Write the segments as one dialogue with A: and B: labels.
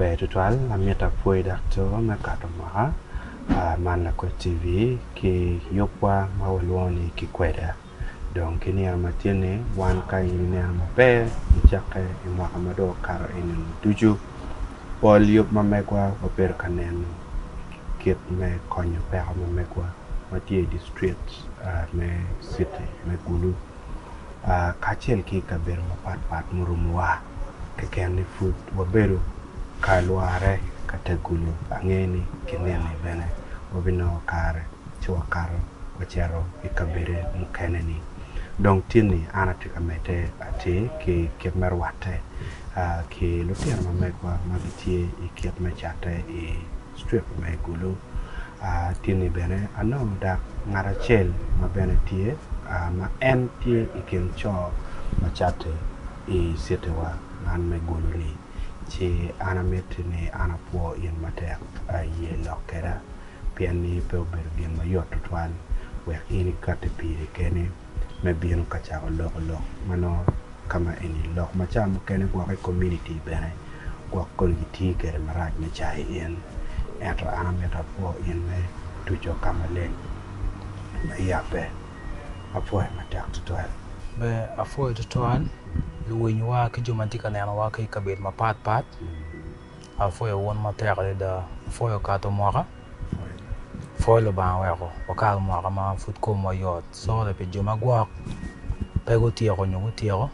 A: Ber tutwal amita pwoyi daktor me kato mwaka man lakwed TV ki yubwa ma walwongo ni kikweda dong ki niang ma tye ni wan ka in ineno maber icakke i mwaka ma dong okato eni ducu pol yub ma megwa wabedo ka neno kit me konyo peko me megwa ma tye i district me citi me Gulu kacel ki i kabedo mapat pat murumowa keken ni pud wabedo ka lwore ka tegulu ange ni ki nini bene wabinongo kare ci wakato wacito i kabedde mukene-ni. Dong tinni an atye ka medde atir ki kit me rwatte ki lutino ma megwa ma gitye i kit me catte i strip me Gulu. Tinni bene anongo dak ngat acel ma bene tye ma en tye i kin co ma catte i citiwa man me Gulu-ni, ci an amitti ni an apwo in matek. Iye lok kweda. pien ni pe obedo gin ma yot tutwal wek in ikatti piri keni me bino ka cako loko lok ma nongo ka ma eni lok ma ca mukene gwok i kominiti bene gwok kong gitye kwede marac me cayi in. Ento an amito apwo in me tuco ka maleng me yabbe. Apwoyi matek tutwal. Be apwoyi
B: tutwal luwinywa ki jo ma gitye ka nenowa ki i kabedo mapatpat. Apwoyo wun matek adada, apwoyo kato mwaka, apwoyo Lubanga oweko wakal mwaka ma pud komwa yot sorry pi jo magwok pe gutyeko nyo gutyeko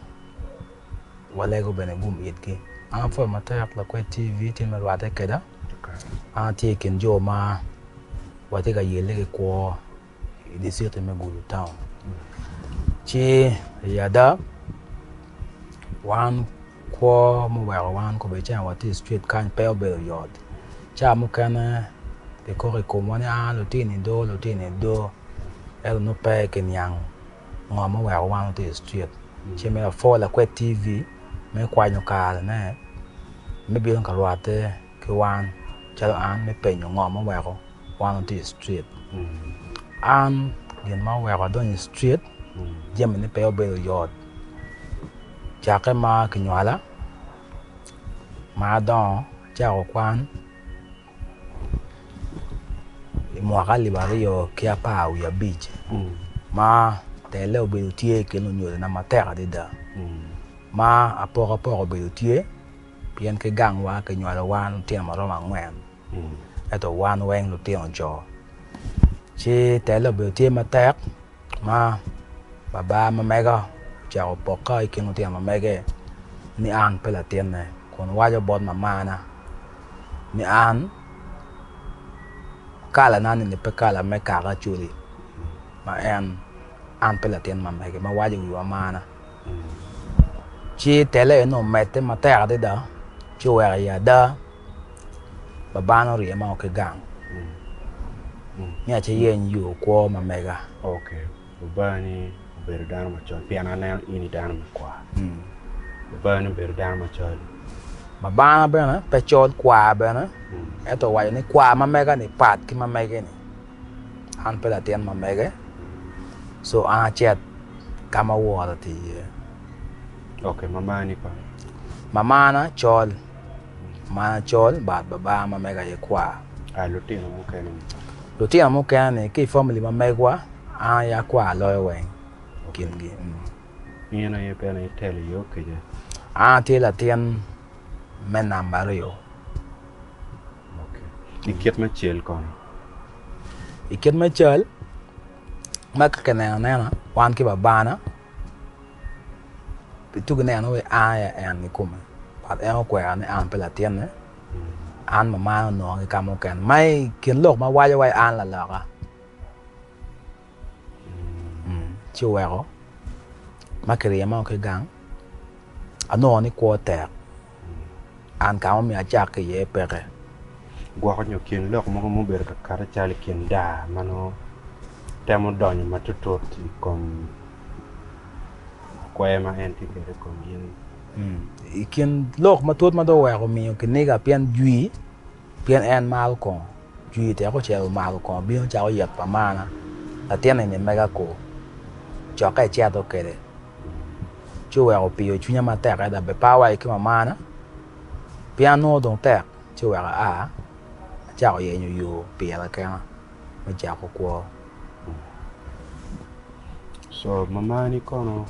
B: walego bene gum itgi. An apwoyo matek Lakwed TV tye me rwatte keda, an atye i kin jo ma watye ka yelle ki kwo i diciti me Gulu taun. Ci i ada, wan kwo muweko wan kubecen wati i strit kany pe obedo yot. Ca mukene kikoko i komwa ni, Aa, lutini do, lutini do. Ento nongo pe kiniang ngo ma oweko wan wati i strit. Ci me lapor lakwed TV me kwanyo karene me bino ka rwatte. ki wan calo an me penyo ngo ma oweko wan watye i street an gin ma oweko adonyo i street jami ne pe obedo yot cake ma kinywala ma adongo acako kwan i mwaka alip aryo ki apar wiye abic ma telle obedo tye i kin lunyodo na matek adada ma apoko apoko obedo tye Pien ki gangwa kinywalo wan lutino ma romo angwen, ento wan weng lutino jo, ci telle obedo tye matek ma baba ma mega ocako poka i kin lutino ma mege ni an pe latinne kun waco bot mamana ni an kalana ni pe kala me kaka Acoli ma en an pe latin ma mege ma waco wiwa mana. Ci tele-ni omedde matek adada ci oweko iye ada, babane orye ma oa ki gang ni aye yeny yo kwo ma mega.
A: Babani obedo dano macol pien aneno in i dano me kwar. Babani obedo dano macol. Babana
B: bene pe col kwar bene ento owaco ni kwar ma mega-ni pat ki ma mege-ni. An pe latin ma mege, so an acit ka ma wora oti iye.
A: Ok, mamani kong? Mamana
B: col. Mamana col but babaa ma mega aye kwar. Ah, lutino mukene ni? Lutino mukene ni ki i famili ma megwa, an aye akwar loyo weng i kingi. Mm.
A: In aye bene itelo iye okija? An atye
B: latin me namba aryo.
A: I kit me cal kono?
B: I kit me cal, ma ka kineno anena wan ki Babana, pi tuk ineno wai an aye En kikome. But En okwera ni an ape latinne, an mamana onongo ki ka mukene. Ma i kin lok ma waco wai an laloka. ci oweko ma kiryema ki i gang anongo ni kwo tek an ka ma omyero acak ki iye peke. Gwoko
A: nyo kin lok mogo ma obedo ka kati calo i kin daa ma nongo temo donyo matutut i kom kwer ma en tye kwede i kom in-ni. I
B: kin lok matut ma dong oweko omiyo kiniga pien jwii Pien en maro kongo jwi tek ocel omako kongo bino cako yet pa marna latin eni mega kur cokke eceto kwede ci oweko opiyo cwinya matek adada be par wa ki mamarna pien nongo dong tek ci oweko aa acako yenyo yo pira kena. me cako kwo.
A: Co mamani kono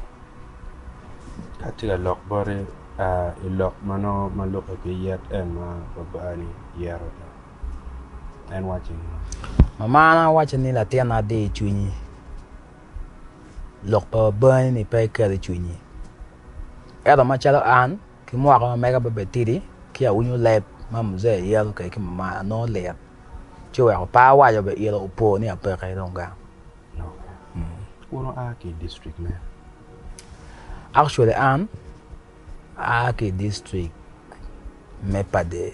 A: ka tye ka lok boti a i lok ma nongo ma lukke ki yet en ma babani yero en wacci ni. Mamana
B: wacci ni latina di cwinyi lok pa babani-ni pe iket icwinyi ento macalo an Ki mwaka ma mega pe obed tidi, ci awinyo leb ma muzee yelo kwede ki mama anongo lit, ci oweko pe awaco be ilo opo ni apeke dong gang.
A: Wun wua ki i district me?
B: Actually an aa ki i district me Padee.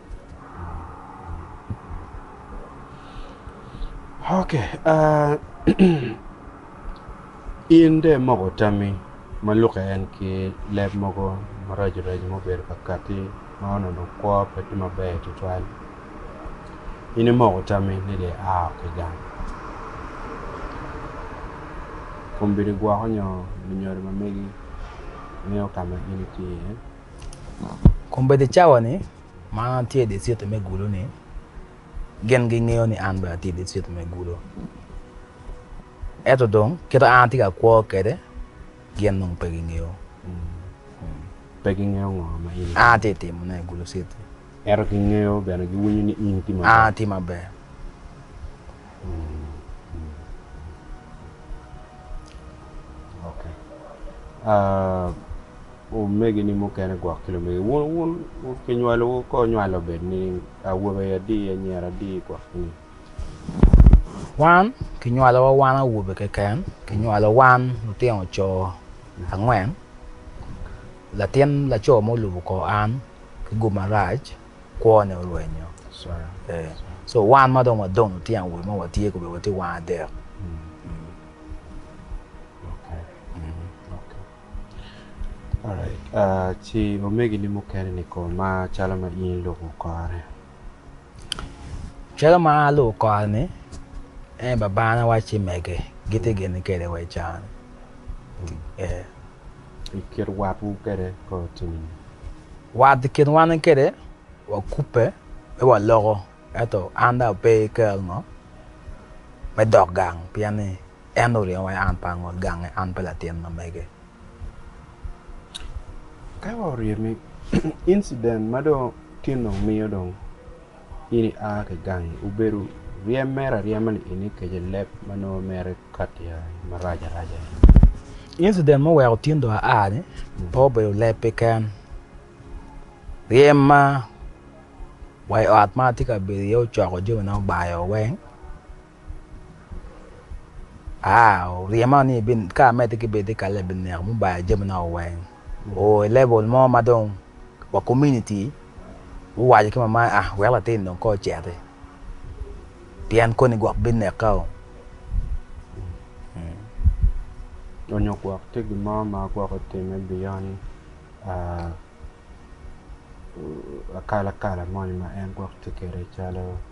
A: In dong imoko tammi ma lukke en ki leb mogo maraco raco ma obedo ka katti ma onongo kwo pe tye maber tutwal in imoko tammi ni dong ia ki gang kombeddi gwoko nyo lunyodo ma megi ngeyo ka ma in itye iye.
B: Kombeddi cawa-ni ma an atye i diciti me gulo-ni, gin gingeyo ni an bene atye i diciti me gulo. Ento dong kite ma an atye ka kwo kwede, gin dong pe gingeyo. Pe gingeyo
A: ngo ma in atye ka timone i gulo
B: citi. Ento gingeyo
A: bene, giwinyo ni in itye maber. An atye maber. Omegini mukene gwok ki lumegi wun, wun kinywalowu kor nywal obed ni awobe aye adi, anyira adi gwok ni.
B: Wan kinywalowa wan awobe keken, kinywalo wan lutino co angwen, latin laco mo olubo kor an ki gum marac, kwone orwenyo. So wan ma dong wadong lutino awobe ma watye kobedi watye wan adek.
A: Ci omegini mukene-ni kono ma calo ma in ilubo kore?
B: Calo ma an alubo kore-ni, en babana wacci mege gitye gene kwede wa i can-ni.
A: I kin watwu kwede kore tye nen? Wat i
B: kin wan ki kwede wakubbe ci waloko ento an dong ape ki kero ngo me dok gang pien ni En oringo wa an pe angut gange, an pe latin ma mege.
A: Ka wa orye me incident ma dong tin dong miyo dong in i a ki gangi obedo ryem mere aryema ni in ikece leb ma nongo mere kati ya marac araca ni. Incident
B: ma oweko tin dong a ni pe obedo leb keken, ryem ma wa i ot ma atye ka bedo iye ocoko jami na obayo weng. Ryema ni ka amedde ki bedo i kalle ebineko me bayo jami na weng o i level mo ma dong wa community guwaco ki mama ni ah wek latin dong kong oceti pien koni gwok bineka oo.
A: Donyo gwok tye gin mo ma gwok otime beyond akalakala moni ma en gwok tye kwede calo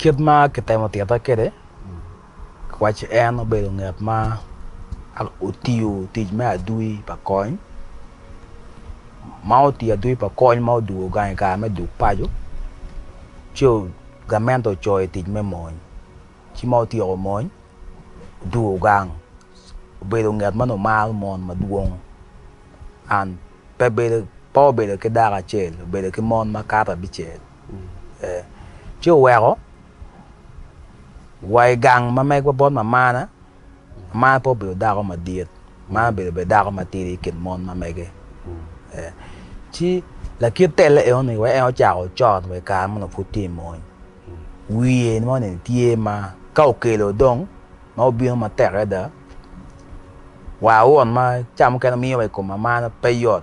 B: Kit ma kitemo tita kwede, kiwaci en obedo ngat ma otiyo tic me adwi pa kony, ma otiyo adwi pa kony ma odwogo gang i kare me duk paco, ci gamente ocoyo i tic me mony. Ci ma otyeko mony, odwogo gang, obedo ngat ma nongo maro mon madwong and pe bedo pe obedo ki dako acel obedo ki mon makato abicel. ci oweko wa i gang ma megwa bot mamana. Mamana pe obedo dako madit, mamana obedo bene dako matidi i kin mon ma mege. Ci lakit telle enoni wek en ocako ocot wa i kare meno pud tye i mony. Wiye moni tye ma ka okelo dong ma obino matek adada, wa won ma ca mukene miyo wa i kom mamana pe yot.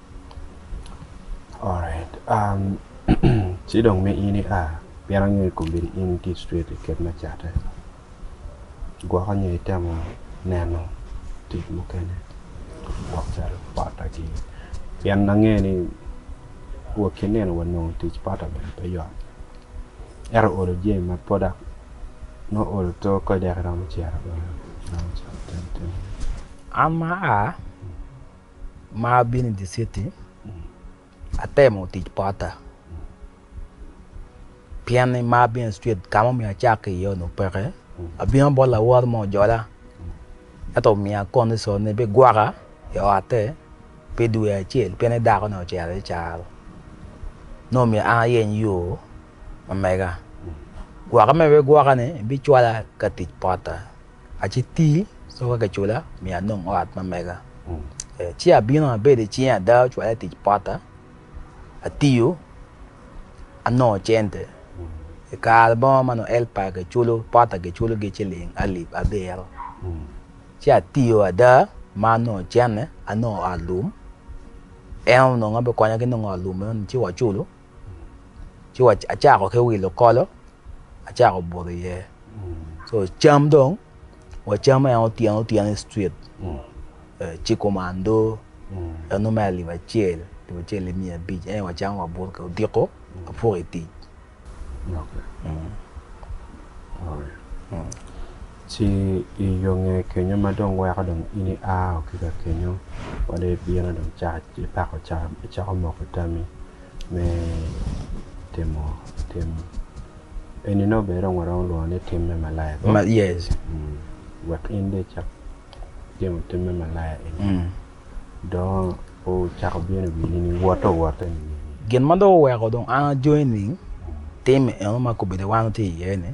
A: Alright ci dong ma in ia pien angeyo ni kombeddi in itye straight i kit me catte gwoko nyo itemo neno tic mukene gwok calo pota gi pien angeyo ni wa ki nino wa nongo tic pota bene pe yot ento olo jami ma product nongo olo to kany dek iromo cito bene iromo cato iromo timo
B: ne. ma abino i dye citi atemo tic potta pien ni ma abino i cwit ka ma omyero acak iye onongo peke abino bot lawot mo ojola ento omiya kondicon ni bigwoka i otte pi dwe acel pieni dako ni ocito i caro nongo myero an ayeny yo ma mega gwokke ma bigwoka ni bicwala ka tic potta. Aci ti so ka kicula mi anong ot ma mega. Ci abino abedo i cing ada ocwale tic pota, atiyo, anongo cente. I kare mo ma nongo elpa kiculo pota kiculogi ciling alip abiro. Ci atiyo ada ma anongo cente, anongo ot lum, en onongo bikonyo ki nongo ot lum meno ni ci waculo. ci wa acako ki wilo kolo acako buto iye so cam dong wacam en otyeno otyeno i street ci kumando en nongo mere alip acel alip acel ki miya abic en aye wacamo wabuto ki odiko wapoko i tic
A: ci i yo nge kenyo ma dong weko dong in ia wa ki ka kenyo wa dong ibino dong icako camo icako moko tammi me timo tim eni nongo bene dong waromo lwongo ni tim me malaya kong? Ma- yes. Mm.
B: Wek
A: in dong icak timo tim me malaya eni Mm. dongo ocako bino i wini ni wotte owotte ni nini? Gin ma dong
B: oweko dong an ajony ni tim eno ma kobeddi wan watye iye-ni